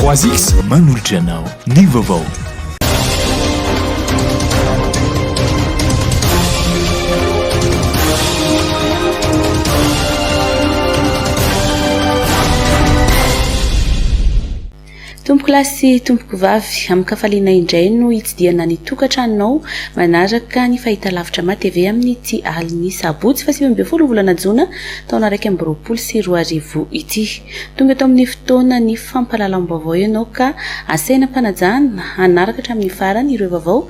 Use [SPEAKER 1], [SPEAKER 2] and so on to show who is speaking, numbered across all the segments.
[SPEAKER 1] 3X manolotra anao ny vaovao.
[SPEAKER 2] Tompoko lahy sy tompoko vavy, amin-kafaliana indray no hitsidihana ny tokantranonao manaraka ny fahitalavitra Matv amin'ity alin'ny sabotsy fahasivy ambin'ny folo volana jona taona iraika amby roapolo sy roa arivo ity. Tonga eto amin'ny fotoanan'ny fampahalalam-baovao ianao ka asaina am-panajana hanaraka hatramin'ny farany ireo vaovao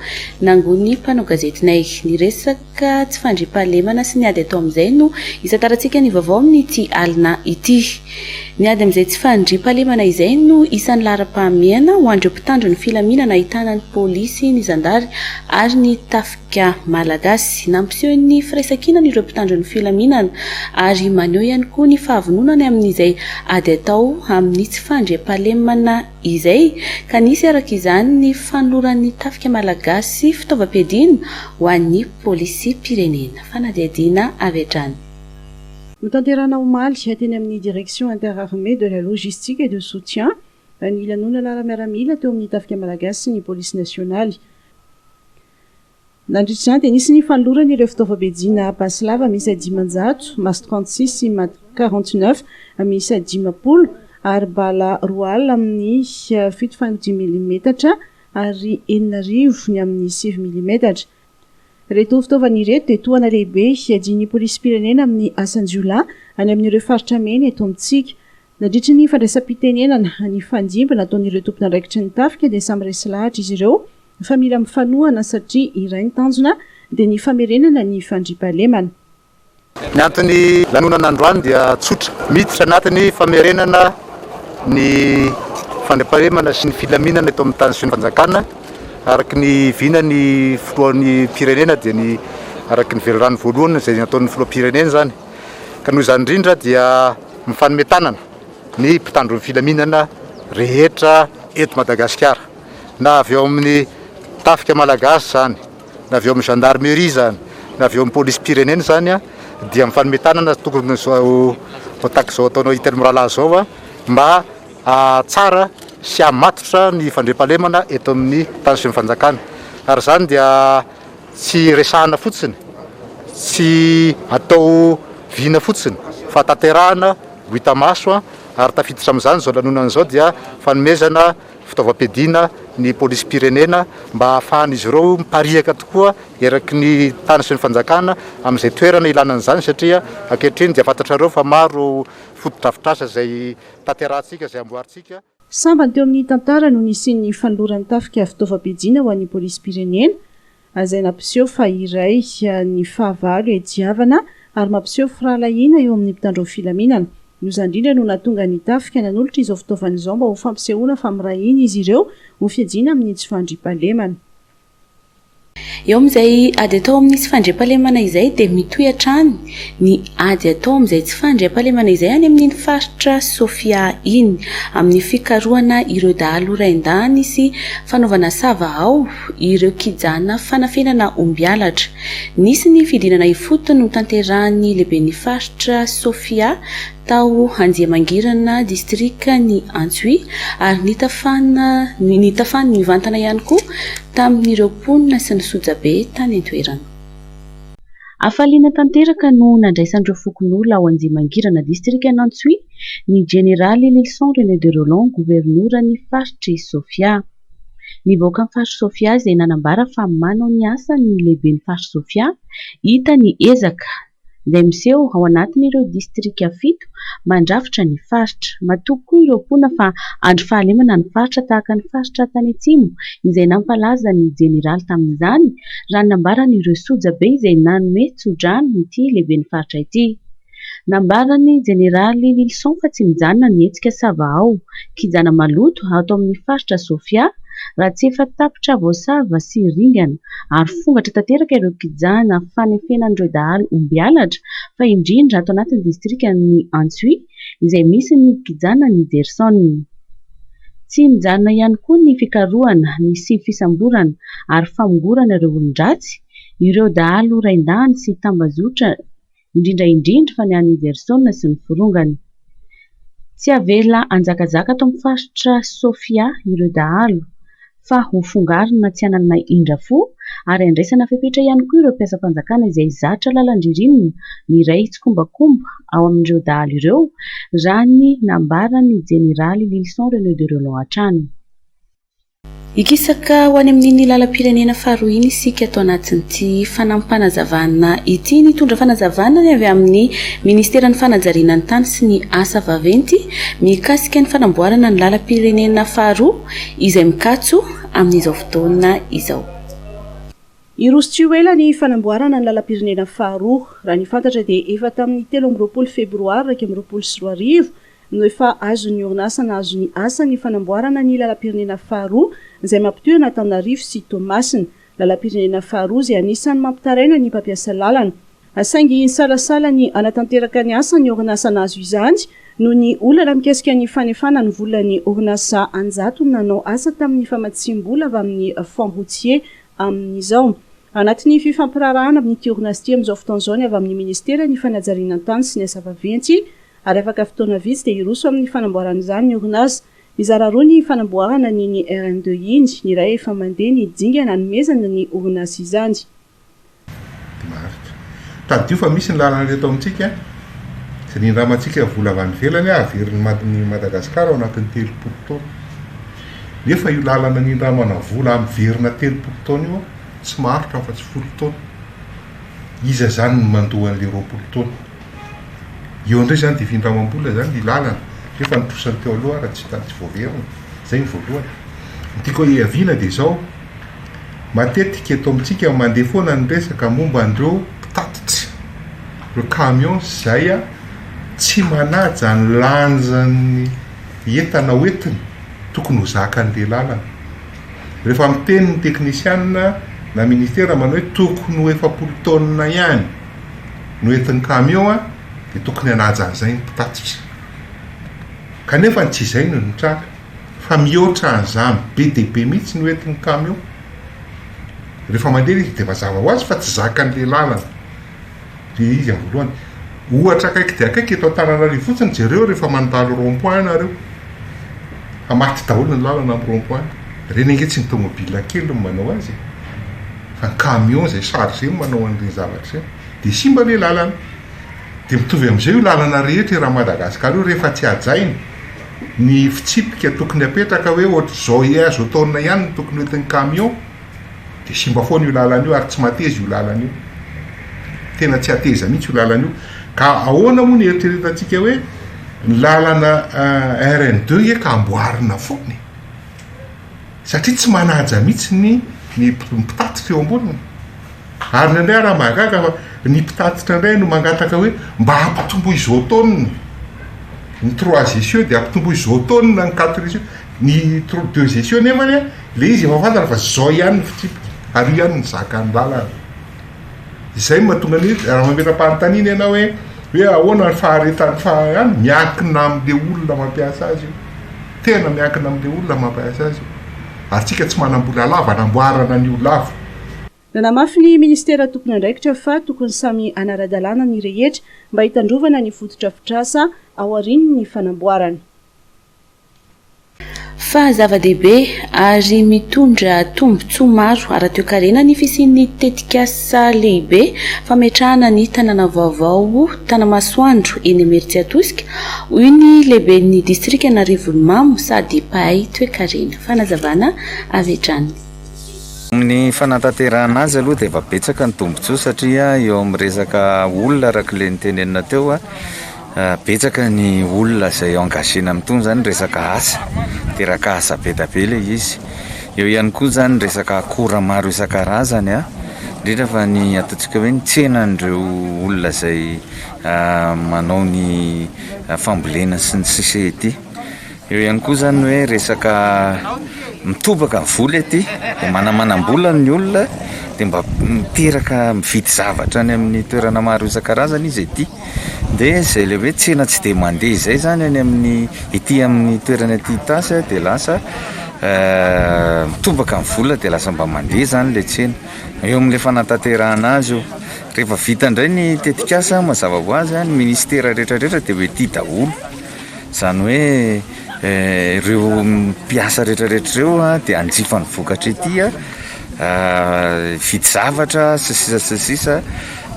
[SPEAKER 2] nangon'ny mpanao gazetinay. Ny resaka tsy fandriampahalemana sy ny ady atao amin'izay no isantarantsika ny vaovao amin'ity alina ity. Ny ady amin'izay tsy fandriampahalemana izay no isan'ny laharam-pahamehana ho an'ireo mpitandro ny filaminana ahitana ny polisy, ny zandary ary ny tafika. ka Malagasy. Nampiseho ny firaisankinany ireo mpitandro ny filaminana ary maneho ihany koa ny fahavononany amin'izay ady atao amin'ny tsy fandriampahalemana izay ka nisy araka izany ny fanoloran'ny tafika Malagasy fitaovam-piadiana ho an'ny Polisim-pirenena. Fanadihadiana avy hatrany. Notanterahina
[SPEAKER 3] omaly, teny amin'ny Direction Inter-Armées de la Logistique et de Soutien, ny lanonana ara-miaramila teo amin'ny tafika Malagasy sy ny Polisy Nasionaly. Nandritra izany dia nisy ny fanolorana ireo fitaovam-piadiana basy lava miisa dimanjato, mas trente six sy mat quarante neuf miisa dimampolo, ary bala roa alina amin'ny fito faingo dimy milimetatra ary enina arivo ny amin'ny sivy milimetatra. Ireto fitaovana ireto dia tohana lehibe hiadian'ny polisim-pirenena amin'ny asan-jiolahy any amin'ireo faritra mena eto amintsika. Nandritry ny fandraisam-pitenenana nifandimby nataon'ireo tompon'andraikitry ny tafika dia samy resy lahatra izy ireo fa mila mifanohana satria iray ny tanjona dia ny famerenana ny fandriampahalemana. Ny
[SPEAKER 4] anton'ny lanonana androany dia tsotra, miditra anatin'ny famerenana ny fandriampahalemana sy ny filaminana eto amin'ny tany sy ny fanjakana araka ny vina ny filohan'ny firenena dia ny araka ny velirano voalohany izay nataon'ny filoham-pirenena izany. Ka noho izany indrindra dia mifanome tanana ny mpitandro ny filaminana rehetra eto Madagasikara, na avy ao amin'ny tafika malagasy izany, na avy ao amin'ny gendarmerie izany, na avy ao amin'ny polisim-pirenena izany dia mifanome tanana tokony izao tahaka izao ataonao Itelo mirahalahy izao mba hahatsara sy hahamatotra ny fandriampahalemana eto amin'ny tany sy ny fanjakana ary izany dia Tsy resahana fotsiny, tsy atao vina fotsiny fa tanterahana ho hita maso ary tafiditra amin'izany izao lanonana izao dia fanomezana fitaovam-piadiana ny polisim-pirenena mba hahafahan'izy ireo mipariaka tokoa eraky ny tany sy ny fanjakana amin'izay toerana ilana an'izany satria ankehitriny dia fantatrareo fa maro fotodrafitrasa izay tanterahantsika, izay amboarintsika. Sambany teo amin'ny
[SPEAKER 3] tantara no nisian'ny fanoloran'ny tafika fitaovam-piadiana ho an'ny polisim-pirenena, izay nampiseho fa iray ny fahavalo iadiavana ary mampiseho firahalahiana eo amin'ny mpitandro ny filaminana. Izany indrindra no nahatonga ny tafika nanolotra izao fitaovana izao mba ho fampisehoana fa miray hina izy ireo ho fiadiana amin'ny tsy fandriampahalemana.
[SPEAKER 2] Eo amin'izay ady atao amin'ny tsy fandriampahalemana izay dia mitohy hatrany ny ady atao amin'izay tsy fandriampahalemana izay any amin'iny faritra Sofia iny, amin'ny fikarohana ireo dahalo raindahiny sy fanaovana sava ao ireo kijana fanafenana ombialatra. Nisy ny fidinana ifotony notanterahin'ny lehiben'ny faritra Sofia tao Andiamangirana distrika ny Antsohihy ary nitafana nitafany nivantana ihany koa tamin'ireo mponina sy ny sojabe tany an-toerana. Hafaliana tanteraka no nandraisan'ireo fokonolona ao Andiamangirana distrikan'Antsohihy ny jeneraly Lylison René de Rolland governoran'ny faritr'i Sofia. Ny vahoakan'ny faritr'i Sofia izay nanambara fa manao ny asany ny lehiben'ny faritr'i Sofia hita ny ezaka izay miseho ao anatin'ireo distrika fito mandrafitra ny faritra. Matoky koa ireo mponina fa andro fahalemana ny faritra tahaka ny faritra tany atsimo izay nampalaza ny jeneraly tamin'izany raha ny nambaran'ireo sojabe izay nanome tsodrano ity lehiben'ny faritra ity. Nambaran'ny jeneraly Lylison fa tsy mijanona ny hetsika sava ao kijana maloto ato amin'ny faritra Sofia raha tsy efa tapitra voasava sy ringana ary fongatra tanteraka ireo kijana fanefenan'ireo dahalo ombialatra fa indrindra ato anatin'ny distrikan'i Antsohihy izay misy ny kijana Nigerson. Tsy mijanona ihany koa ny fikarohana sy fisamborana ary famongorana ireo olon-dratsy, ireo dahalo rain-dahiny sy tambazotra, indrindra indrindra fa ny any Heverson sy ny forongany. Tsy havela hanjakazaka ato amin'ny faritra Sofia ireo dahalo fa hofongarina tsy hanana indra fo ary handraisana fepetra ihany koa ireo mpiasam-panjakana izay zatra lalan-dririnina miray tsikombakomba ao amin'ireo dahalo ireo raha ny nambaran'ny Jeneraly Lylison René Derelon hatrany. Hikisaka ho any amin'iny lalam-pirenena faharoa iny isika ato anatin'ity fanampim-panazavana ity. Nitondra fanazavana ny avy amin'ny Ministeran'ny fanajariana ny tany sy ny asa vaventy mikasika ny fanamboarana ny lalam-pirenena faharoa izay mikatso amin'izao fotoana izao.
[SPEAKER 3] Hiroso tsy ho ela ny fanamboarana ny lalam-pirenena faharoa. Raha ny fantatra dia efa tamin'ny telo amby roapolo febroary iraika amby roapolo sy roa arivo no efa azon'ny orinasa nahazo ny asa ny fanamboarana ny lalam-pirenena faharoa izay mampitohy an'Antananarivo sy Toamasina, lalam-pirenena faharoa izay anisan'ny mampitaraina ny mpampiasa lalana. Saingy nisalasala ny hanatanteraka ny asa ny orinasa nahazo izany noho ny olana mikasika ny fanefana ny volan'ny orinasa an-jatony nanao asa tamin'ny famatsiam-bola avy amin'ny Fonds routier amin'izao. Anatin'ny fifampiraharahana amin'ity orinasa ity amin'izao fotoana izao ny avy amin'ny Minisitera ny fanajariana ny tany sy ny asa vaventy, ary afaka fotoana vitsy dia hiroso amin'ny fanamboarana izany ny orinasa. Mizara roa ny fanamboarana ny ny RN2 iny, ny iray efa mandeha ny dingana hanomezana ny orinasa izany. Maharitra.
[SPEAKER 5] Tadidio fa misy ny lalana ireto amintsika, izay nindramantsika vola avy any ivelany haverin'i Madagasikara ao anatin'ny telopolo taona. Nefa io lalana nindramana vola miverina telopolo taona io tsy maharitra afa-tsy folo taona. Iza izany no mandoa an'ilay roapolo taona? Eo indray izany dia findramam-bola izany ny lalana nefa ny trosany teo aloha ary tsy tany tsy voaverina. Izay ny voalohany. Ny tiako hiaviana dia izao, matetika eto amintsika mandeha foana ny resaka momba an'ireo mpitatitra, ireo camions izay tsy manaja ny lanjan'ny entana hoentiny tokony ho zakan'ilay lalana. Rehefa miteny ny teknisiana na minisitera manao hoe tokony ho efapolo tonnes ihany. no entin'ny kamiao dia tokony hanaja an'izay ny mpitatitra. Kanefa tsy izay no nitranga fa mihoatra an'izany be dia be mihitsy no entin'ny kamiao. Rehefa mandeha ilay izy dia mazava ho azy fa tsy zakan'ilay lalana ilay izy amin'ny voalohany. Ohatra akaiky dia akaiky eto Antananarivo fotsiny jereo rehefa mandalo rond point ianareo fa maty daholo ny lalana amin'ny rond point. Ireny ange tsy ny tomobile kely no manao azy e. fa ny camion izay chargé no manao an'ireny zavatra ireny dia simba ilay lalana, dia mitovy amin'izay io lalana rehetra eran'i Madagasikara io rehefa tsy hajaina ny fitsipika tokony hapetraka hoe ohatr'izao ia azo ataonina ihany no tokony hoentin'ny camion dia simba foana io lalana io ary tsy mateza io lalana io, tena tsy hateza mihintsy io lalana io, ka ahoana moa ny eritreretantsika hoe ny lalana RN deux ia ka amboarina foana e! satria tsy manaja mihitsy ny ny mpitatitra eo amboniny. Ary indraindray ary aho mahagaga fa ny mpitatitra indray no mangataka hoe mba ampitomboy izao taonina ny trois essieux dia ampitomboy izao taonina ny quatre essieux, ny deux essieux nefany an ilay izy efa fantany fa izao ihany ny fitsipika ary io ihany no zakan'ny lalana. Izay no mahatonga ny hoe raha mametra-panontaniana ianao hoe hoe ahoana ny faharetan'ny fa-, miankina amin'ilay olona mampiasa azy io. Tena miankina amin'ilay olona mampahaiza azy io. Ary tsika tsy manam-bola lava anamboarana an'io lava. Nanamafy
[SPEAKER 3] ny Ministera tompon'andraikitra fa tokony samy hanara-dalàna ny rehetra mba hitandrovana ny fotodrafitrasa aorian'ny fanamboarana.
[SPEAKER 2] Fa zava-dehibe ary mitondra tombontsoa maro ara-toekarena ny fisian'ny tetikasa. Saha lehibe, fametrahana ny tanàna vaovao Tanamasoandro eny Imeritsiatosika, hoy ny lehiben'ny distrikan'Arivonimamo sady mpahay toekarena. Fanazavana avy hatrany. Amin'ny
[SPEAKER 6] fanatanterahana azy aloha dia efa betsaka ny tombontsoa satria eo amin'ny resaka olona arak'ilay notenenina teo, Betsaka ny olona izay engagena amin'itony zany resaka asa, miteraka asa be dia be ilay izy. Eo ihany koa zany ny resaka akora maro isan-karazany, indrindra fa ny ataontsika hoe ny tsenan'ireo olona izay manao ny fambolena sy ny sisa ety. Eo ihany koa izany hoe resaka mitobaka ny vola ety dia manamanam-bola ny olona dia mba miteraka mividy zavatra any amin'ny toerana maro isan-karazany izy ety dia izay ilay hoe tsena tsy dia mandeha izay izany any amin'ny ety amin'ny toerana ety Itasy dia lasa eh, mitobaka ny vola dia lasa mba mandeha izany ilay tsena. Eo amin'ilay fanatanterahana azy io. Rehefa vita indray ny tetikasa mazava ho azy, ny minisitera rehetra rehetra dia ho ety daholo. izany hoe ireo mpiasa retraretra ireo dia hanjifa ny vokatra ety an, hividy zavatra sy ny sisa sy ny sisa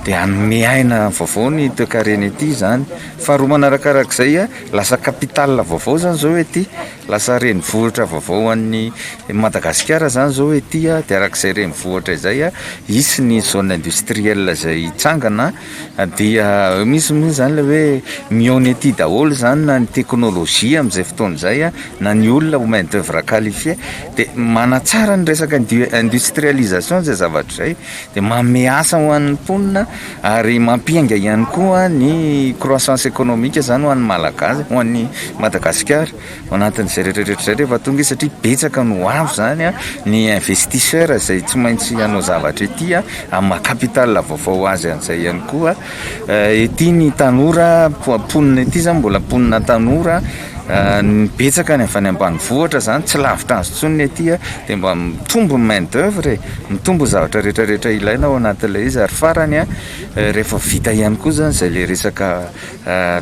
[SPEAKER 6] dia hanome aina vaovao ny toekarena ety izany, faharoa manarakarak'izay an, lasa capital vaovao izany izao ety, lasa renivohitra vaovao ho an'ny Madagasikara izany izao ety dia arak'izay renivohitra izay an, hisy ny zone industrielle izay hitsangana. Dia misy moa izany ilay hoe mihaona ety daholo izany na ny teknolojia amin'izay fotoana izay na ny olona ho main d'oeuvre qualifié dia manatsara ny resaka industrialisation izay zavatra izay dia manome asa ho an'ny mponina ary mampiainga ihany koa ny croissance économique izany ho an'ny Malagasy, ho an'ny Madagasikara. Ao anatin'izay rehetrarehetra izay rehefa tonga izy satria betsaka no ho avy izany ny investisseur izay tsy maintsy hanao zavatra ety an, amin'ny maha capital vaovao ho azy an'izay ihany koa. Ety ny tanora mponina ety izany mbola mponina tanora, betsaka ny avy any ambanivohitra izany tsy lavitra azy intsony ny ety an, dia mba mitombo ny main d'oeuvre e, mitombo ny zavatra rehetrarehetra ilaina ao anatin'ilay izy ary farany an, rehefa vita ihany koa izany izay ilay resaka.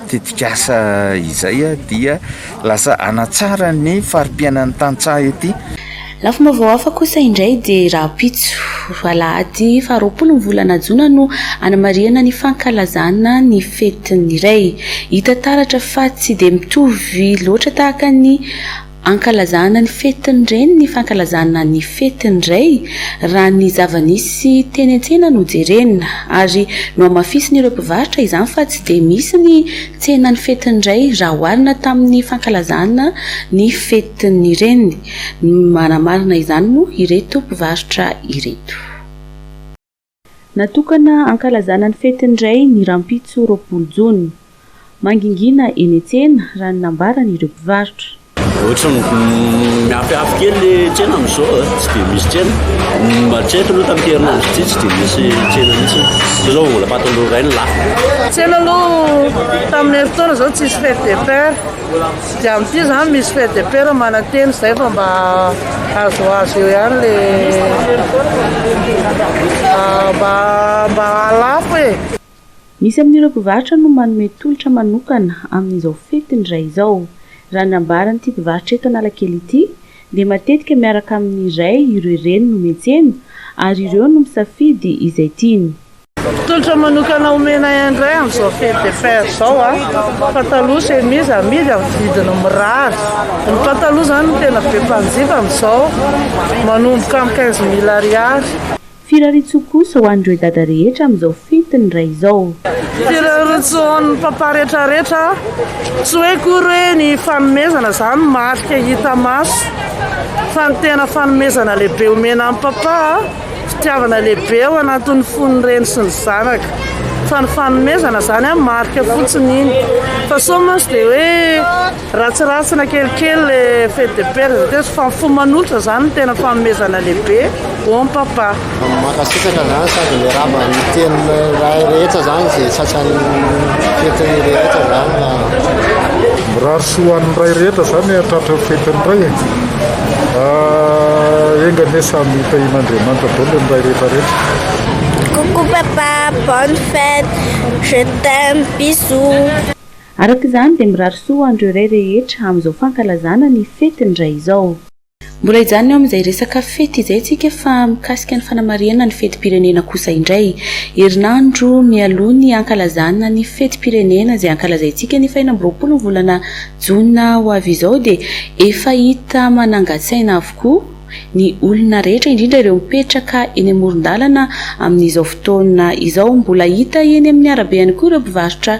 [SPEAKER 6] tetikasa izay dia lasa hanatsara ny fari-piainan'ny tantsaha ety. Lafim-baovao
[SPEAKER 2] hafa kosa indray dia rahampitso, alahady faharoapolo ny volana jona no hanamarihana ny fankalazana ny fetin'ny ray. Hita taratra fa tsy dia mitovy loatra tahaka ny Ankalazana ny fetin'ny reny ny fankalazana ny fetin'ny ray raha ny zava-nisy teny an-tsena no jerena. Ary nohamafisin'ireo mpivarotra izany fa tsy dia misy ny tsenan'ny fetin'ny ray raha oharina tamin'ny fankalazana ny fetin'ny reny. Manamarina izany moa ireto mpivarotra ireto. Natokana hankalazana ny fetin'ny Ray ny rahampitso roapolo jona. Mangingina eny an-tsena, raha ny nambaran'ireo mpivarotra. Ohatran'ny
[SPEAKER 7] miafihafy kely le tsena amin'izao a, tsy dia misy tsena. Hatreto aloha tamin'ity herinandro ity tsy dia nisy tsena mihitsy. Satria izao vola fatin'ireo Ray no lafo. Tsena aloha
[SPEAKER 8] tamin'ny herintaona izao tsisy fête des pères. Dia amin ity zany misy fait de père mananteny zay fa mba azoazo eo ihany le mba mba alafo e. Misy amin'ireo
[SPEAKER 2] mpivarotra no manome tolotra manokana amin'izao fetin'ny Ray izao. Raha ny ambaran'ity mpivarotra eto Analakely ity dia matetika miaraka amin'ny Ray ireo reny no miantsena ary ireo no misafidy izay tiany. Tolotra
[SPEAKER 8] manokana omenay indray amin'izao fille de fer izao a, pataloha, chemise amidy amin'ny vidiny mirary. Ny pataloha izany no tena be mpanjifa amin'izao, manomboka amin'ny quinze mille ariary. Firariantsoa
[SPEAKER 2] kosa ho an'ireo dada rehetra amin'izao fety ny ray izao. Firariantsoa
[SPEAKER 8] ho an'ny papa rehetrarehetra, tsy hoe akory hoe ny fanomezana izany no marika hita maso fa ny tena fanomezana lehibe omena an'i papa a. Fitiavana lehibe ao anatin'ny fon'ny reny sy ny zanaka. Fa ny fanomezana izany an, marika fotsiny iny. Fa sao mantsy dia hoe ratsiratsina kelikely le fête de père izay teo. Fa ny fo manolotra izany no tena fanomezana lehibe. Bon papa. Mankasitraka
[SPEAKER 9] izany sady miarahaba ny tenin'ny ray rehetra izany izay sasany fetin'ny rehetra izany.
[SPEAKER 5] Tsy ho an'ny ray rehetra izany e, tratran'ny fetin'ny ray e. Ah, enga anie samy hitahian'Andriamanitra daholo ny ray rehetra rehetra. Coucou
[SPEAKER 10] papa, bonne fête, je t'aime, bisous. Araka izany
[SPEAKER 2] dia mirary soa ho an'ireo ray rehetra amin'izao fankalazana ny fetin'ny ray izao. Mbola hijanona eo amin'izay resaka fety izay isika fa mikasika ny fanamarihana ny fetim-pirenena kosa indray. Herinandro mialoha ny hankalazana ny fetim-pirenena izay hankalazaintsika ny fahenina amby roapolo ny volana jona ho avy izao dia efa hita manangan-tsaina avokoa ny olona rehetra indrindra ireo mipetraka eny amoron-dalana amin'izao fotoana izao. Mbola hita eny amin'ny arabe ihany koa ireo mpivarotra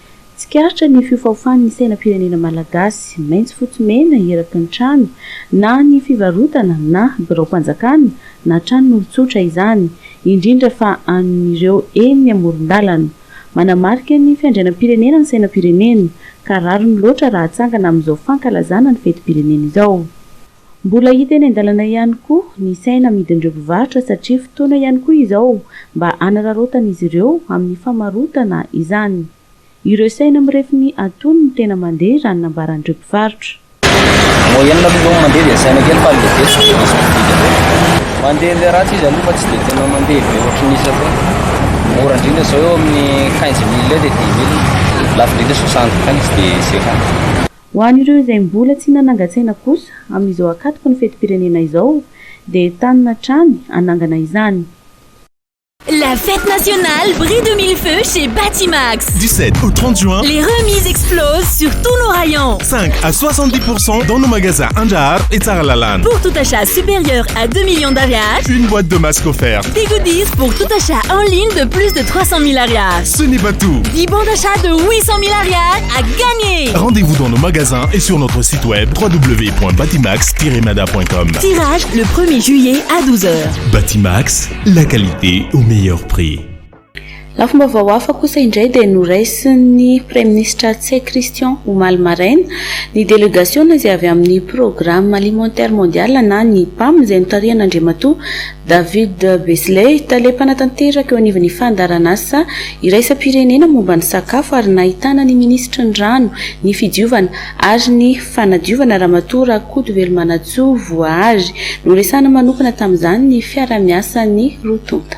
[SPEAKER 2] Tsikaritra ny fiofaofan'ny sainam-pirenena malagasy, maitso fotsy mena eraky ny trano, na ny fivarotana na biraom-panjakana na tranon'olon-tsotra izany, indrindra fa an'ireo eny amoron-dalana. Manamarika ny fiandrianam-pirenena ny sainam-pirenena, ka rariny loatra raha atsangana amin'izao fankalazana ny fetim-pirenena izao. Mbola hita eny an-dalana ihany koa ny saina amidin'ireo mpivarotra satria fotoana ihany koa izao mba hanararaotan'izy ireo amin'ny famarotana izany. Ireo saina mirefy ny antonony no tena mandeha raha ny nambaran'ireo mpivarotra. Moyenne
[SPEAKER 11] aloha izao ny mandeha dia saina kely fa ilay be tsy dia misy mpividy loatra. Mandeha ilay ratsy izy aloha fa tsy dia tena mandeha be ohatry ny izy ireny. Mora indrindra izao eo amin'ny quinze mille eo dia dix mille. Lafo indrindra soixante quinze dia cinquante. Ho an'ireo
[SPEAKER 2] izay mbola tsy nanangan-tsaina kosa, amin'izao ankatoky ny fetim-pirenena izao, dia entanina hatrany hanangana izany.
[SPEAKER 12] La fête nationale brille de mille feux chez Batimax. Du 7 au 30
[SPEAKER 13] juin, les remises explosent
[SPEAKER 12] sur tous nos rayons. 5 à 70
[SPEAKER 13] pourcent dans nos magasins Andraharo et Tsaralalana. Pour tout achat
[SPEAKER 12] supérieur à 2 millions d'Ariary, Une boîte de masques
[SPEAKER 13] offerte. des goodies pour
[SPEAKER 12] tout achat en ligne de plus de 300 000 Ariary, Ce n'est pas tout.
[SPEAKER 13] 10 bons d'achat de
[SPEAKER 12] 800 000 Ariary, à gagner Rendez-vous dans nos magasins
[SPEAKER 13] et sur notre site web www.batimax-mada.com. Tirage le 1er
[SPEAKER 12] juillet à 12h. Batimax,
[SPEAKER 13] la qualité au meilleur prix.
[SPEAKER 2] Lafim-baovao hafa kosa indray dia noraisin'ny Praiminisitra Tse Christian omaly maraina ny delegasiona izay avy amin'ny Programme Alimentaire Mondial na ny pam izay notarihan'Andriamatoa David Beasley, tale mpanatanteraka eo anivon'ny fandaharanasa iraisam-pirenena momba ny sakafo ary nahitana ny minisitry ny rano, ny fidiovana ary ny fanadiovana Ramatoa Rakotovelomanantsoa Voahary. Noresahana manokana tamin'izany ny fiaraha-miasan'ny roa tonta.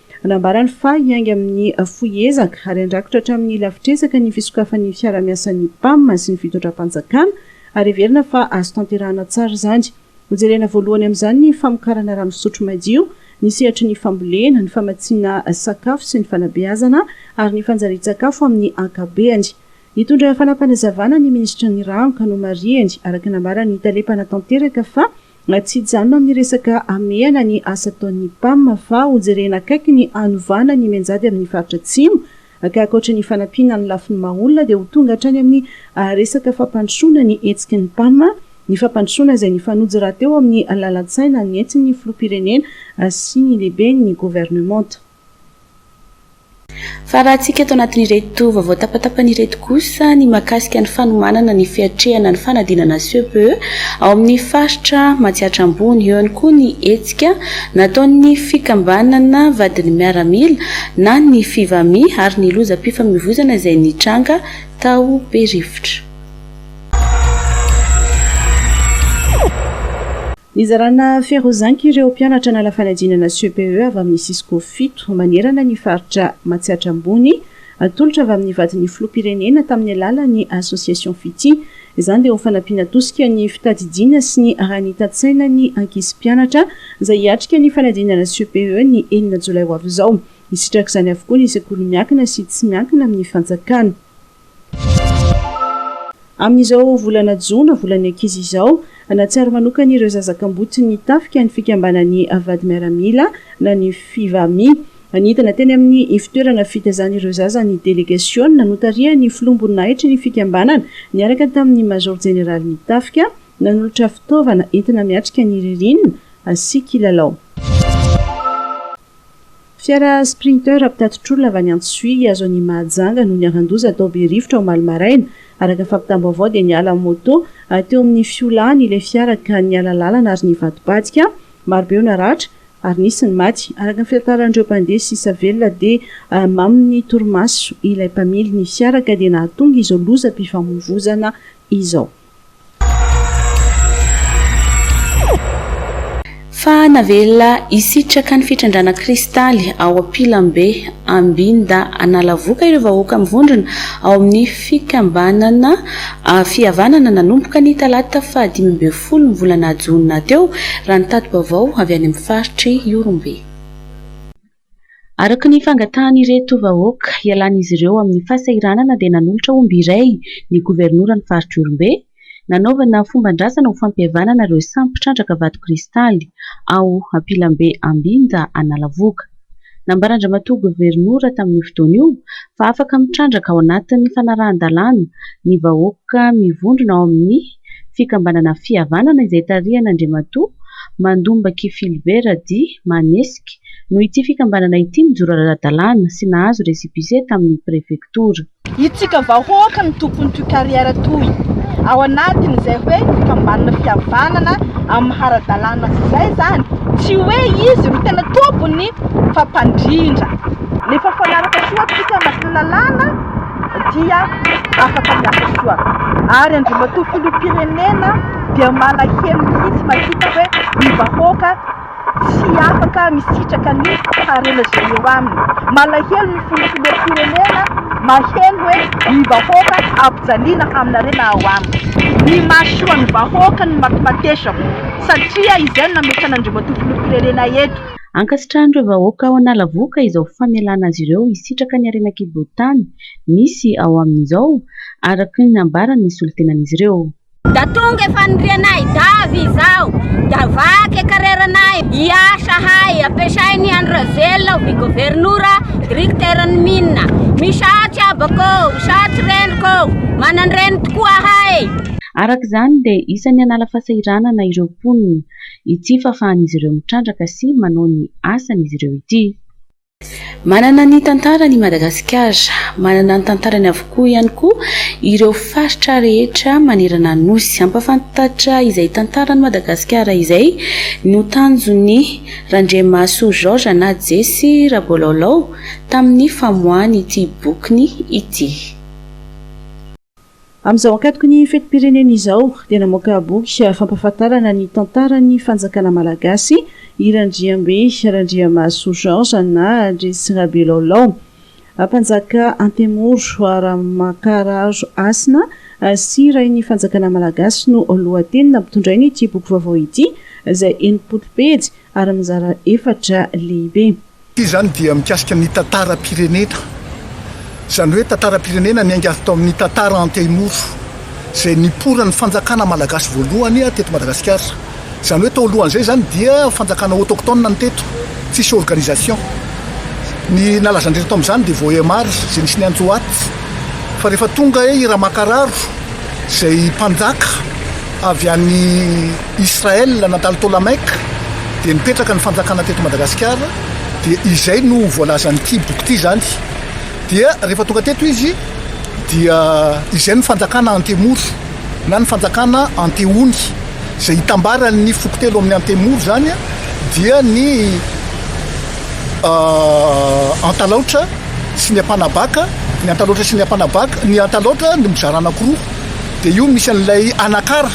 [SPEAKER 3] Nambarany fa hiainga amin'ny fohy ezaka ary handrakotra hatramin'ny lafitresaka ny fisokafan'ny fiarahamiasan'ny Pam sy ny fitondram-panjakana ary heverina fa azo tanterahana tsara izany. Hojerena voalohany amin'izany ny famokarana rano fisotro madio, ny sehatry ny fambolena, ny famatsiana sakafo sy ny fanabeazana ary ny fanjarian-tsakafo amin'ny ankabeany. Nitondra fanapanazavana ny minisitry ny rano ka nomarihany araka nambaran'ny tale mpanatanteraka fa Na tsy hijanona amin'ny resaka hamehana ny asa ataon'ny Pam fa hojerena akaiky ny hanovana ny mianjady amin'ny faritra Atsimo, ka ankoatra ny fanampiana amin'ny lafiny maha olona dia ho tonga hatrany amin'ny resaka fampandrosoana ny hetsiky ny Pam, ny fampandrosoana izay nifanojo rahateo amin'ny lalan-tsaina nentin'ny Filoham-pirenena sy ny lehiben'ny governemanta.
[SPEAKER 2] Fa raha antsika eto anatin'ireto vaovao tapatapany ireto kosa ny mahakasika ny fanomanana ny fiatrehana ny fanadinana CPE ao amin'ny faritra Matsiatra Ambony. Eo ihany koa ny hetsika nataon'ny fikambanana vadin'ny miaramila na ny Fivami ary ny lozam-pifamoivozana izay nitranga tao Berivotra.
[SPEAKER 3] Nizarana Ferozanky ireo mpianatra nala fanadinana CPE avy amin'ny Cisco fito manerana ny faritra Matsiatra Ambony, atolotra avy amin'ny vadin'ny Filoham-pirenena tamin'ny alalan'ny Association Fitia. Izany dia ho fanampiana tosika ny fitadidiana sy ny aranitan-tsainan'ny ankizy mpianatra izay hiatrika ny fanadinana CPE ny enina jolay ho avy izao. Hisitraka izany avokoa ny sekoly miankina sy tsy miankina amin'ny fanjakana. Amin'izao volana jona, volan'ny ankizy izao, nahatsiaro manokana ireo zaza kamboty ny tafika ny fikambanan'ny Vady Miaramila na ny Fivami. Nidina teny amin'ny ivotoerana fitazan'ireo zaza ny delegasiona notarihan'ny filoham-boninahitry ny fikambanana niaraka tamin'ny Major Jeneralin'ny tafika nanolotra fitaovana entina miatrika ny ririnina sy kilalao. Fiara Sprinter mpitati-tr'olona avy any Antsohihy hihazo an'i Mahajanga no niharan-doza tao Berivotra omaly maraina. Araka ny fampitam-baovao dia niala amin'ny moto teo amin'ny fiolahany ilay fiara ka niala lalana ary nivadibadika. Marobe no naratra ary nisy ny maty. Araka ny fitantaran'ireo mpandeha sisa velona dia mamin'ny torimaso ilay mpamily ny fiara ka dia nahatonga izao lozam-pifamoivoizana izao.
[SPEAKER 2] Fa navela hisitraka ny fitrandrahana kristaly ao am-pilambe Ambinda Analavoka ireo vahoaka mivondrona ao amin'ny fikambanana Fihavanana nanomboka ny talata fahadimy ambin'ny folo ny volana jona teo, raha ny tati-baovao avy any amin'ny faritr'i Ihorombe. Araka ny fangatahan'ireto vahoaka hialan'izy ireo amin'ny fahasahiranana dia nanolotra omby iray ny governoran'ny faritr'Ihorombe, nanaovana fomban-drazana ho fampihavanana ireo samy mpitrandraka vato kristaly ao Ampilambe Ambinja Analavoga. Nambaran-dRamatoa Governora tamin'io fotoana io fa afaka mitrandraka ao anatin'ny fanarahan-dalàna ny vahoaka mivondrona ao amin'ny fikambanana Fihavanana izay tarihan' Andriamatoa Mandombaky Philbert Radi Manesik no ity fikambanana ity nijoro ara-dalàna sy nahazo récépissé tamin' ny prefektora. Isika
[SPEAKER 14] vahoaka no tompon' ity carrière toy ao anatin' izay hoe fikambanana Fihavanana amin' ny hara-dalàna sy izay izany tsy hoe izy no tena tompony fa mpandrindra. Nefa mifanaraka soa atsika amin' ny lalàna. dia afaka miasa soa ary Andriamatoa Filoham-pirenena dia malahelo mihitsy mahita hoe ny vahoaka tsy afaka misitraka ny harena izay eo aminy. Malahelo ny Filoham-pirenena maheno hoe ny vahoaka ampijaliana amin'ny harena ao aminy. Ny mahasoa ny vahoaka no matimatesako satria izay no nametrahan'Andriamatoa Filoham-pirenena eto. Ankasitrahan'ireo
[SPEAKER 2] vahoaka ao Analavoka izao famelana azy ireo hisitraka ny harena kibotany misy ao aminy izao, araka ny nambaran'ny solontenan'izy ireo. Da tonga e
[SPEAKER 15] fanirianay davy izao da vaky e kareranay hiasa hay ampiasainy Andry Rajoelina ovi governora drikitera ny mine misaotsy abako ô misaotsy rendriko ô manandreny tokoa ahay. Araka izany
[SPEAKER 2] dia isan'ny hanala fasahiranana ireo mponina Ity fahafahan'izy ireo mitrandraka sy manao ny asany izy ireo ity. Manana ny tantarany i Madagasikara. Manana ny tantarany avokoa ihany koa ireo faritra rehetra manerana ny Nosy. Hampafantatra izay tantaran'i Madagasikara izay no tanjon'i Randriamahasoa Georges na Jesy Rabolaolao tamin'ny famoahany ity bokiny ity.
[SPEAKER 3] Amin'izao ankatoky ny fetim-pirenena izao dia namoaka boky fampahafantarana ny tantaran'ny fanjakana malagasy i Randriambe Randriamahasoa Georges na Andresy Rabelaolao, mpanjaka Antemoro Ramakararo Hasina sy rain'ny fanjakana malagasy no lohateny nampitondrain'ity boky vaovao ity izay enimpolo pejy ary mizara efatra lehibe. Ity izany dia
[SPEAKER 16] mikasika ny tantaram-pirenena, izany hoe tantaram-pirenena niainga avy tao amin'ny tantara antemoro izay niporan'ny fanjakana malagasy voalohany teto Madagasikara. Izany hoe tao alohan'izay izany dia fanjakana autochtone no teto, tsisy organisation. Ny nalaza an-dry reto amin'izany dia Vohemar izay nisy ny Antsoat, fa rehefa tonga i Ramakararo izay mpanjaka avy any. Israël nandalo Ptolamaique dia nipetraka ny fanjakana teto Madagasikara dia izay no voalazan'ity boky ity izany dia rehefa tonga teto izy dia izay ny fanjakana Antemoro na ny fanjakana Antehony izay hitambaran'ny foko telo amin'ny Antemoro izany dia ny euh, Antalaotra sy ny Ampanabaka ny Antalaotra sy ny Ampanabaka ny Antalaotra no mizara anankiroa dia io misy an'ilay Anakara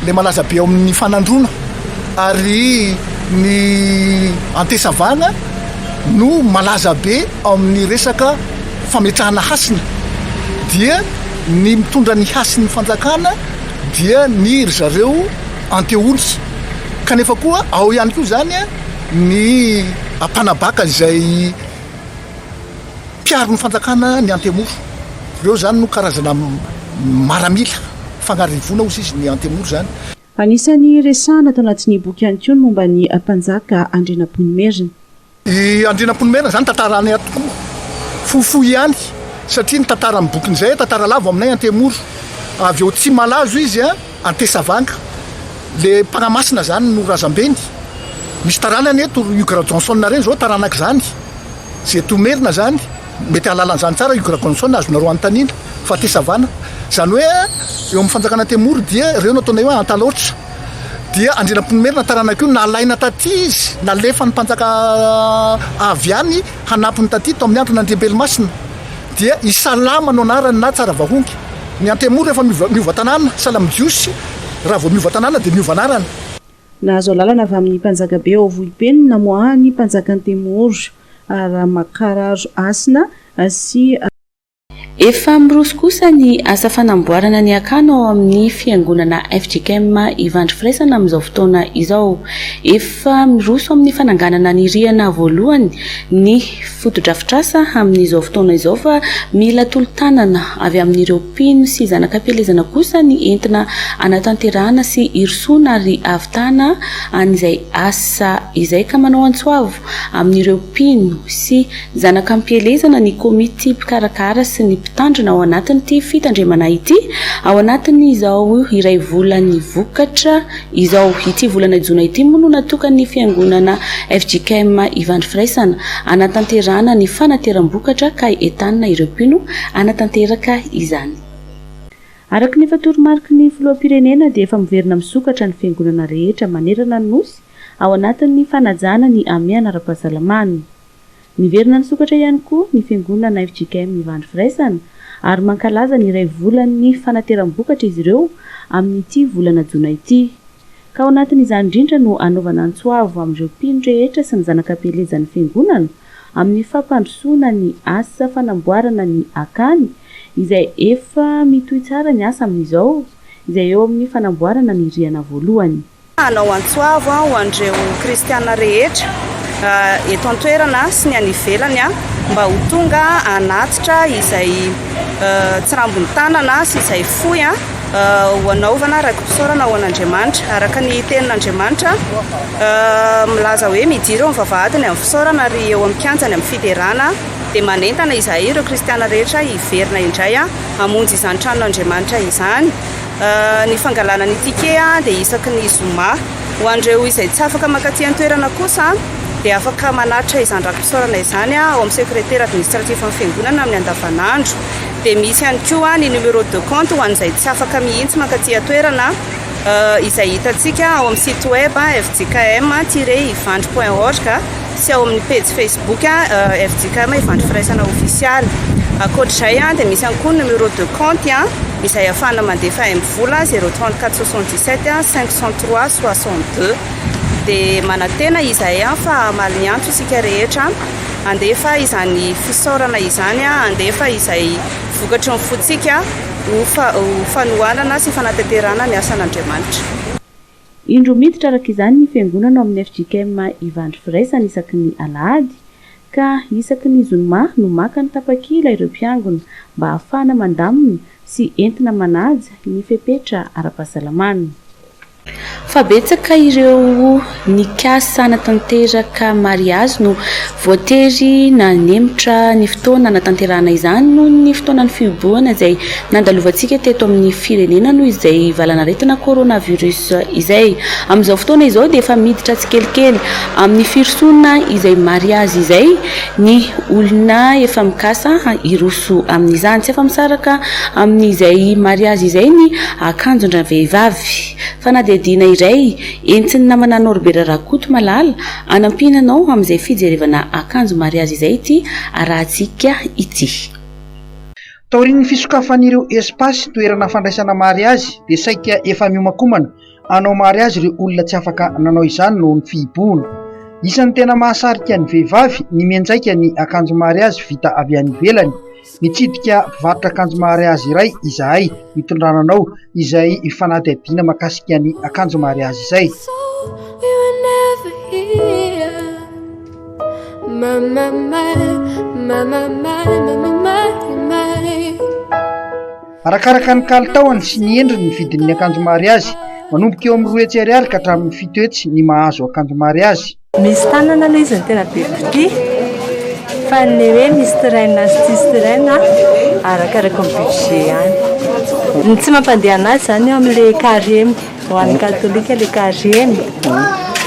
[SPEAKER 16] Ilay malaza be ao amin'ny fanandroana ary ny antesavana no malaza be ao amin'ny resaka fametrahana hasina dia ny mitondra ny hasin'ny fanjakana dia ny ry zareo anteoly kanefa koa ao ihany koa izany ny ampanabaka izay Mpiaro ny fanjakana ny Antemoro. Ireo izany no karazana maramila fagnarivona hozy izy ny Antemoro izany. Anisan'ny
[SPEAKER 3] resahana tao anatin'ny boky ihany koa ny momba ny mpanjaka Andrianampoinimerina. I
[SPEAKER 16] Andrianampoinimerina izany tantara anay ato koa fohifohy ihany satria ny tantaran'ny bokin'izay, tantara lava ao aminay Antemoro. Avy ao Tsimalazo izy. Antesavanga. Le mpanamasina zany no razambeny. Misy taranany eto ry Hugues Rajohnson reny zao taranak zany. Ze eto Merina zany mety ahalala an'zany tsara Hugues Rajohnson azonareo anontaniana fa Antesavana zany hoe eo amin'ny fanjakana Antemoro dia reo no ataonay hoe Antalaotra. Dia Andrianampoinimerina taranak io nalaina taty izy nalefan'ny mpanjaka avy any hanampiny taty tao amin'ny andron'Andriambelomasina. Dia i Salama no anarany na tsara vahohonky. Ny Antemoro rehefa miova tanàna, Salam Jiosy, raha vao miova tanàna dia miova anarana. Nahazo
[SPEAKER 3] alalana avy amin'ny mpanjakabe ao Vohipe ny namoahan'ny mpanjaka Antemoro, Ramakararo Hasina sy.
[SPEAKER 2] Efa miroso kosa ny asa fanamboarana ny akano ao amin'ny fiangonana fjkm Ivandry Firaisana amin'izao fotoana izao. Efa miroso amin'ny fananganana ny rihana voalohany ny. fotodrafitrasa amin'izao fotoana izao fa mila tolo-tanana avy amin'ireo mpino sy zanak'ampielezana kosa ny entina hanatanterahana sy hirosoana ary hahavitana an'izay asa izay ka manao antsoavo amin'ireo mpino sy zanak'ampielezana ny komity mpikarakara sy ny mpitandrina ao anatin'ity fitandremana ity ao anatin'izao iray volany vokatra Izao, ity volana jona ity moa no natokan'ny fiangonana fjkm Ivandry Firaisana hanatanterahana ny fanateram-bokatra ka entanina ireo mpino hanatanteraka izany. Araka ny efa toromariky ny filoham-pirenena dia efa miverina misokatra ny fiangonana rehetra manerana ny Nosy ao anatin'ny fanajana ny hamehana ara-pahasalamana. Niverina nisokatra ihany koa ny fiangonana fjkm Ivandry Firaisana ary mankalaza ny iray volan'ny fanateram-bokatra izy ireo amin'ity volana jona ity. Ka ao anatin'izany indrindra no hanaovana antso avo amin'ireo mpino rehetra sy ny zanaka pelezan'ny fiangonana amin'ny fampandrosoana ny asa fanamboarana ny akany izay efa mitohy tsara ny asa amin'izao izay eo amin'ny fanamboarana ny rihana voalohany. Hanao antso
[SPEAKER 17] avo ho an'ireo kristiana rehetra eto an-toerana sy ny any ivelany mba ho tonga hanatitra izay tsirambin'ny tanana sy izay fohy ho anaovana raki-pisaorana ho an'Andriamanitra. Araka ny tenin'Andriamanitra, milaza hoe mijiro eo amin'ny vavahadiny amin'ny fisaorana ary eo amin'ny kianjany amin'ny fiderana, dia manentana izahay ireo kristiana rehetra hiverina indray hamonjy izany tranon'Andriamanitra izany. Ny fangalana ny ticket dia isaky ny zoma. Ho an'ireo izay tsy afaka mankaty an-toerana kosa dia afaka manatitra izany raki-pisaorana izany ao amin'ny sekretera administratifon'ny fiangonana amin'ny andavanandro. Dia misy ihany koa ny numéro de compte ho an'izay tsy afaka mihitsy mankaty an-toerana izay hitantsika ao amin'ny site web fjkm-ivandry.org. sy ao amin'ny pejy Facebook FJKM Ivandry Firaisana Ofisialy. Ankoatra izay, dia misy ihany koa ny numéro de compte izay ahafahana mandefa aim-bola 034 77 503 62. Dia manantena izahay fa hamaly ny antso isika rehetra handefa izany fisaorana izany, handefa izay vokatry ny fontsika ho fanohanana sy fanatanterahana ny asan'Andriamanitra.
[SPEAKER 2] Indro miditra araka izany ny fiangonana ao amin'ny fjkm Ivandry Firaisana isaky ny alahady ka isaky ny zoma no maka ny tapakila ireo mpiangona mba ahafahana mandamina sy entina manaja ny fepetra ara-pahasalamana. Fa betsaka ireo nikasa hanatanteraka mariazy no Voatery nanemotra ny fotoana hanatanterahana izany noho ny fotoanan'ny fihibohana izay nandalovantsika teto amin'ny firenena noho izay valanaretina coronavirus izay. Amin'izao fotoana izao dia efa miditra tsikelikely amin'ny firosoana izay mariazy izay ny olona efa mikasa hiroso amin'izany. Tsy afa-misaraka amin'izay mariazy izay ny akanjon-dravehivavy. Fanadihadiana iray entsin'ny namana Norbert Rakotomalala Hanampiana anao amin'izay fijerevana akanjo mariazy izay ity arahantsika ity.
[SPEAKER 18] Taorian'ny fisokafan'ireo espasy toerana fandraisana mariazy dia saika efa miomankomana hanao mariazy ireo olona tsy afaka nanao izany noho ny fihibohana. Isan'ny tena mahasarika ny vehivavy ny mianjaika ny akanjo mariazy vita avy any ivelany Nitsidika mpivarotra akanjo mariazy iray izahay hitondrana anao izay fanadihadiana mahakasika ny akanjo mariazy izay. Arakaraka ny kalitaony sy ny endriny ny vidin'ny akanjo mariazy, manomboka eo amin'ny roa hetsy ariary ka hatramin'ny fito hetsy ny mahazo akanjo mariazy. Misy tanana aloha
[SPEAKER 19] izy no tena be mpitia fa ny hoe misy sirène sy tsisy sirène arakaraka ny budget ihany. Ny tsy mampandeha anazy izany eo amin'ilay carême, ho an'ny katolika ilay carême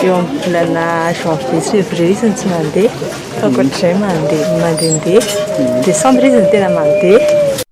[SPEAKER 19] eo amin'ny volana janvier sy février izy no tsy mandeha fa ankoatr'izay mandeha mandehandeha. Décembre izy no tena mandeha.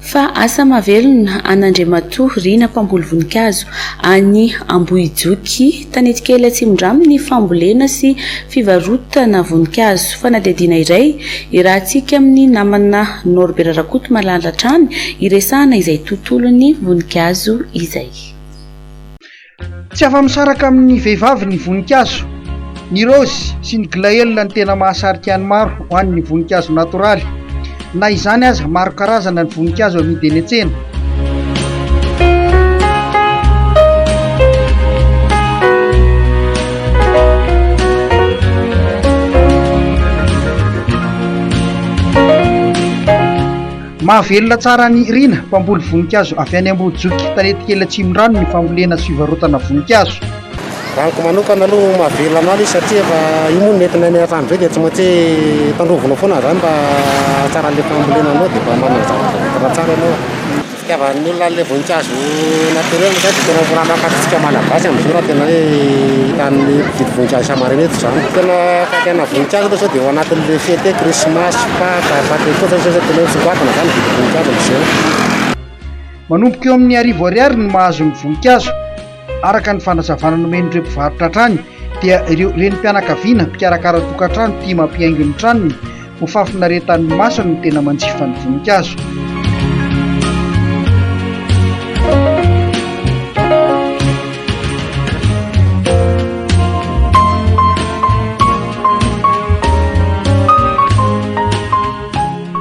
[SPEAKER 2] Fa asa mahavelona an'Andriamatoa Rina mpamboly voninkazo any Ambohijoky, Tanetikely Atsimondrano ny fambolena sy fivarotana voninkazo. Fanadihadiana iray irahantsika amin'ny namana Norbert Rakotomalala hatrany hiresahana izay tontolon'ny voninkazo izay.
[SPEAKER 18] Tsy afa-misaraka amin'ny vehivavy ny voninkazo. Ny raozy sy ny glaëlle no tena mahasarika ny maro ho an'ny voninkazo natoraly. Na izany aza, maro karazana ny voninkazo amidy eny an-tsena. Mahavelona tsara an'i Rina, mpamboly voninkazo avy any Ambodijoky, Tanetikely Atsimondrano ny fambolena sy fivarotana voninkazo. Raha amiko
[SPEAKER 9] manokana aloha mahavelona anao ilay izy satria efa io moa ny entinay miaraka amin'izay dia tsy maintsy hoe tandrovinao foana izany mba hahatsaran'ilay fambolena anao dia mba manana zavatra tsara ianao. Ny fitiavan'ny olona an'ilay voninkazo. Naturel zany tena mora makatsitsika malagasy amzao raha tena hoe hitan'ny mpividy voninkazo ankamaroany eto zany tena fakiana voninkazo aloha zao de ao anatin'ny fety hoe krismasy, paka, paquet koa zany zao tena hoe misongadina zany mividy voninkazo amzao.
[SPEAKER 18] Manomboka eo amin'ny arivo ariary no mahazo ny voninkazo, araka ny fanazavana nomen'ireo mpivarotra hatrany dia ireo renim-pianakaviana mpikarakara tokantrano tia mampihaingo ny tranony ho fahafinaretan'ny masony ny tena manjifa ny voninkazo.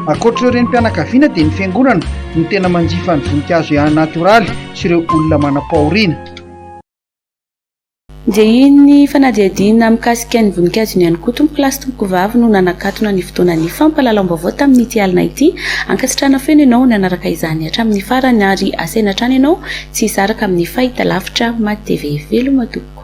[SPEAKER 18] Ankoatr'ireo renim-pianakaviana dia ny fiangonana no tena manjifa ny voninkazo ihany natioraly sy ireo olona manam-pahoriana.
[SPEAKER 2] Njehin'ny fanadihadiana mikasika ny voninkazo iny ihany koa tompoko lahy sy tompoko vavy no nanakatona ny fotoanan'ny fampahalalam-baovao tamin'ity alina ity. Ankasitrahana feno ianao nanaraka izany hatramin'ny farany ary asaina hatrany ianao tsy hisaraka amin'ny fahitalavitra Matv. Veloma tompoko.